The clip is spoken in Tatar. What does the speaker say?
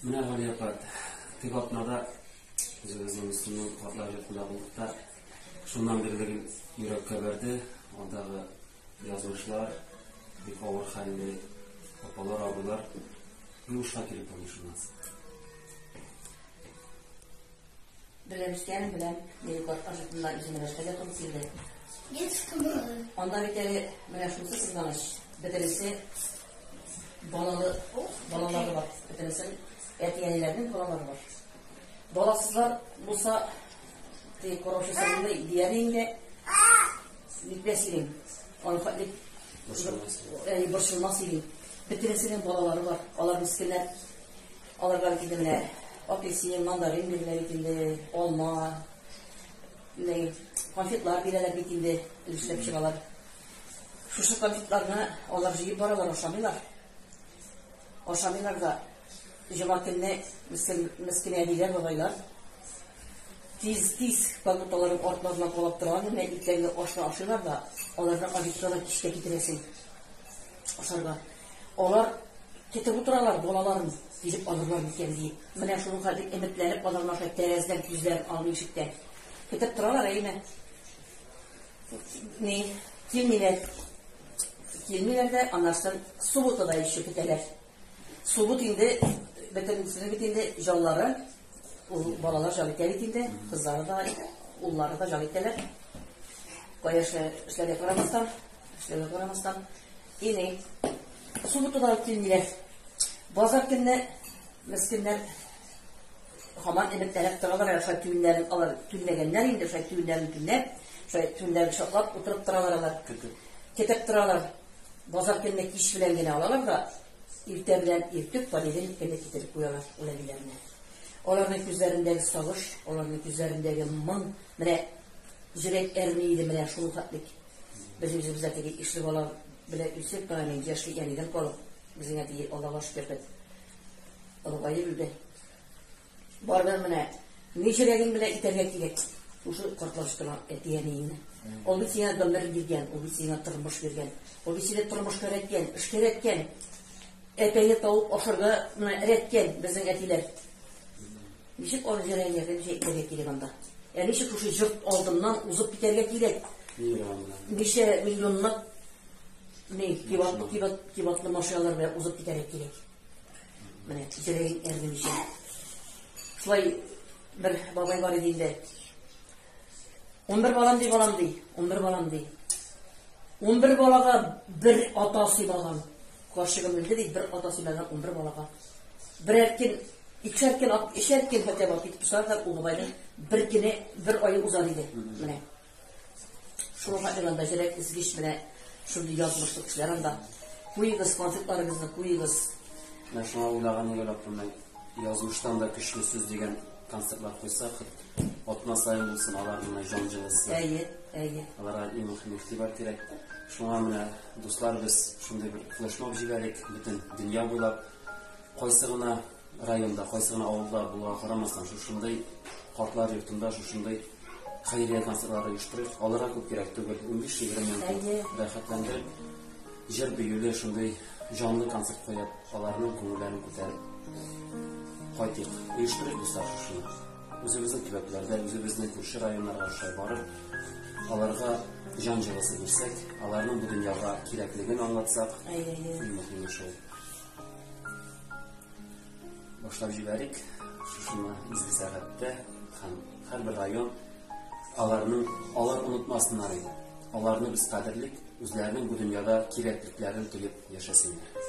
Менә Галия апа, теге атнада үзебезнең Мөслимнең картлар йортында булдык та, шуннан бирле гел йөрәккә бәрде, андагы язмышлар, бик авыр хәлле апалар, абыйлар. Юлышка килеп булмый шуннан соң. Беләм, икәнен беләм. Минем карт ажытыннан үземә нәрсә дә туры килде. Детский балалар. Анда бит әле менә шунысы сызганыч. Бөтенесе балалы, балалары бар. Бөтенесен әти-әниләрнең балалары бар. Баласызлар булса, ты короче сәлимдә идея инде. Битмәс идең. Аны хәтлек борчылмас идең. Бөтенесенең балалары бар. Алар мискиннәр Аларга бит инде менә апельсин, мандарин бирелә бит инде, алма, менә конфетлар бирәләр бит инде, өлешләп чыгалар. Шушы конфетларны алар җыеп баралар, ашамыйлар. Ашамыйлар да җомга көнне мескин әбиләр, бабайлар тиз-тиз продуктларын артларына калап торган гына итләрне ашны ашыйлар да, аларны обедка да кичкә китерәсең ашарга. Алар көтеп утыралар, балаларын тизеп алырлар микән диеп. Менә шуның хәзер өметләнеп аларны аша тәрәзәдән күзләрен алмый ишектән. Көтеп торалар, әйеме? Ни, килмиләр. Килмиләр дә, аннан суббота да еще көтәләр. Суббот инде бөтенесенең бит инде җаллары, ул балалар җал итә бит инде, кызлары да, уллары да җал итәләр. Кая эшләргә карамастан, Эшләргә карамастан, ине субботада килмиләр. Базар көнне мескеннәр хаман эбетләнеп торалар, ә шулай түннәрен алар түнләгәннәр инде, шулай түннәрен түнләп, шулай түннәрен шатлап утырып торалар алар. Кетеп торалар. Базар көнне кич белән генә алалар да, иртә белән иртүк понедельник көнне китереп куялар үләбиләрне. Аларның күзләрендәге сагыш, аларның күзләрендәге моң, менә Жүрәк әрни иде менә шул хәтлек Без үзебез дә теге ишле бала белән үсеп, бара мин яшьли әнидән калып, безнең әти Аллага шөкер бит. Олыгаеп үлде. Барыбер менә ни җөрәгең белән итәргә кирәк. Шушы картлаштыра әти-әниеңне. Ул бит сиңа гомер биргән, ул бит сиңа тормыш биргән. Ул бит сине тормышка өйрәткән, эшкә өйрәткән. Әтәйне тауып ашарга менә өйрәткән безнең әтиләр. Ничек аны җәләй ярдәм җәй итәргә кирәк анда? Ә ничек шушы җорт алдыннан узып китәргә кирәк? Ничә миллионлап ни кибатлы кибат кибатлы машиналар белән узып китәргә кирәк? Менә җәләй ярдәм җәй. Шулай бер бабай бар иде инде. 11 балам ди, балам ди. 11 балам ди. 11 балага бер ата сыйлаган. Каршыгым үлде ди, бер ата сыйлаган 11 балага. Бер эркин, ике эркин, ике эркин хәтта бар китеп тора да Угыбайда бер кине бер ай уза диде. Менә. Шуңа хәтлегендә җирәк изгеш менә шундый язмышлы кешеләр анда. Куегыз конфетларыгызны, куегыз. Менә шуңа уйлаган юлы язмыштан да көчле сүз дигән Концертлар куйса, атна саен булсын алар менә җан җылысы. Әйе, әйе. Аларга иң мөһим игътибар кирәк. Шуңа менә дуслар без шундый бер флешмоб җибәрик, бөтен дөнья буйлап кайсы гына районда, кайсы гына авылда булуга карамастан, шушындый картлар йортында шушындый хәйрия концертлары оештырыйк. Аларга күп кирәк түгел, 15-20 минут рәхәтләндереп Җыр биюле шундый җанлы концерт куеп, аларның күңелләрен күтәреп кайтыйк. Оештырыйк дуслар шушыны. Үзебезнең төбәкләрдә, үзебезнең күрше районнарга ошай барып, аларга җан җылысы бирсәк, аларның бу дөньяга кирәклеген аңлатсак, иң мөһиме шул. Башлап җибәрик шушыны изге сәгатьтә һәм һәрбер район аларның алар онытмасыннар иде. Аларны без кадерлик, үзләренең бу дөньяда кирәклекләрен тоеп яшәсеннәр.